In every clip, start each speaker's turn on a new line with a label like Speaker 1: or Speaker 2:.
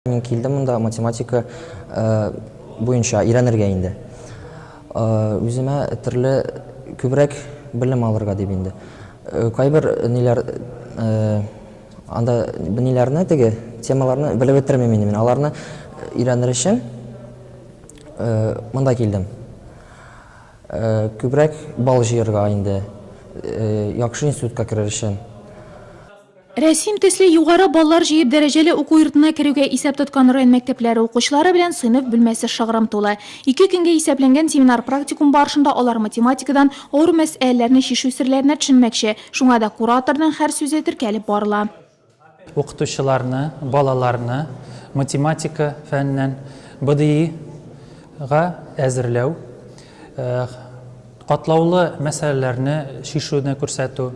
Speaker 1: Мин килдем монда математика э, буенча өйрәнергә инде. Э, үземә төрле күбрәк белем алырга дип инде. Э, кайбер ниләр анда ниләрне теге темаларны белеп бетермим инде мин. Аларны өйрәнер өчен монда килдем. Күбрәк бал җыярга инде. Яхшы институтка керер өчен.
Speaker 2: Рәсим төсле югары баллар җыеп дәрәҗәле уку йортына керүгә исәп тоткан район мәктәпләре укучылары белән сыйныф бүлмәсе шыгрым тулы. Ике көнгә исәпләнгән семинар-практикум барышында алар математикадан авыр мәсьәләләрне чишү серләренә төшенмәкче, шуңа да кураторның һәр сүзе теркәлеп барыла. Укытучыларны,
Speaker 3: балаларны математика фәненнән БДИга әзерләү, катлаулы мәсьәләләрне чишүне күрсәтү,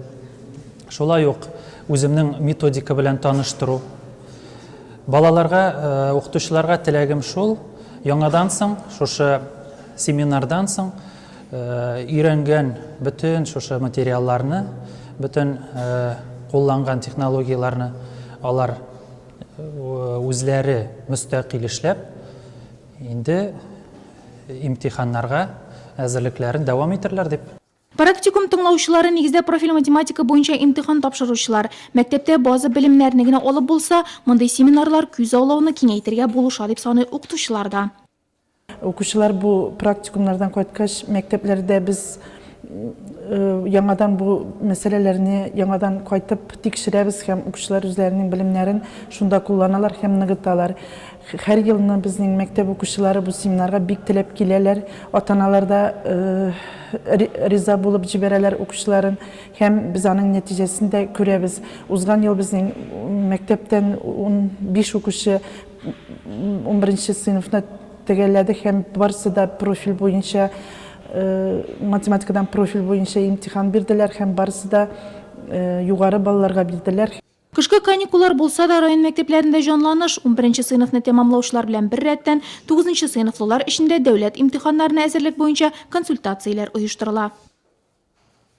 Speaker 3: Шулай ук үземнең методика белән таныштыру. Балаларга, укытучыларга теләгем шул, яңадан соң шушы семинардан соң өйрәнгән бөтен шушы материалларны, бөтен кулланган технологияләрне алар үзләре мөстәкыйль эшләп, инде имтиханнарга әзерлекләрен дәвам итәрләр дип. Практикум
Speaker 2: тыңлаучылары нигездә профиль математика буенча имтихан тапшыручылар. Мәктәптә база белемнәрне генә алып булса, мондый семинарлар күз аулауны киңәйтергә булыша, дип саный укытучылар да.
Speaker 4: Укучылар бу практикумнардан кайткач, мәктәпләрдә без яңадан бу мәсьәләләрне яңадан кайтып тикшерәбез һәм укучылар үзләренең белемнәрен шунда кулланалар һәм ныгыталар. Һәр елны безнең мәктәп укучылары бу семинарга бик теләп киләләр. Ата-аналар да риза булып җибәрәләр укучыларын һәм без аның нәтиҗәсен дә күрәбез. Узган ел безнең мәктәптән 15 укучы 11 сыйныфны тәгәрләде һәм барсы да профиль буенча математикадан профиль буенча имтихан бирделәр һәм барсы да югары балларга бирделәр. Кышкы каникуллар
Speaker 2: булса да, район мәктәпләрендә җанланыш. Унберенче сыйныфны тәмамлаучылар белән бер рәттән, тугызынчы сыйныфлылар өчен дә дәүләт имтиханнарына әзерлек буенча консультацияләр оештырыла.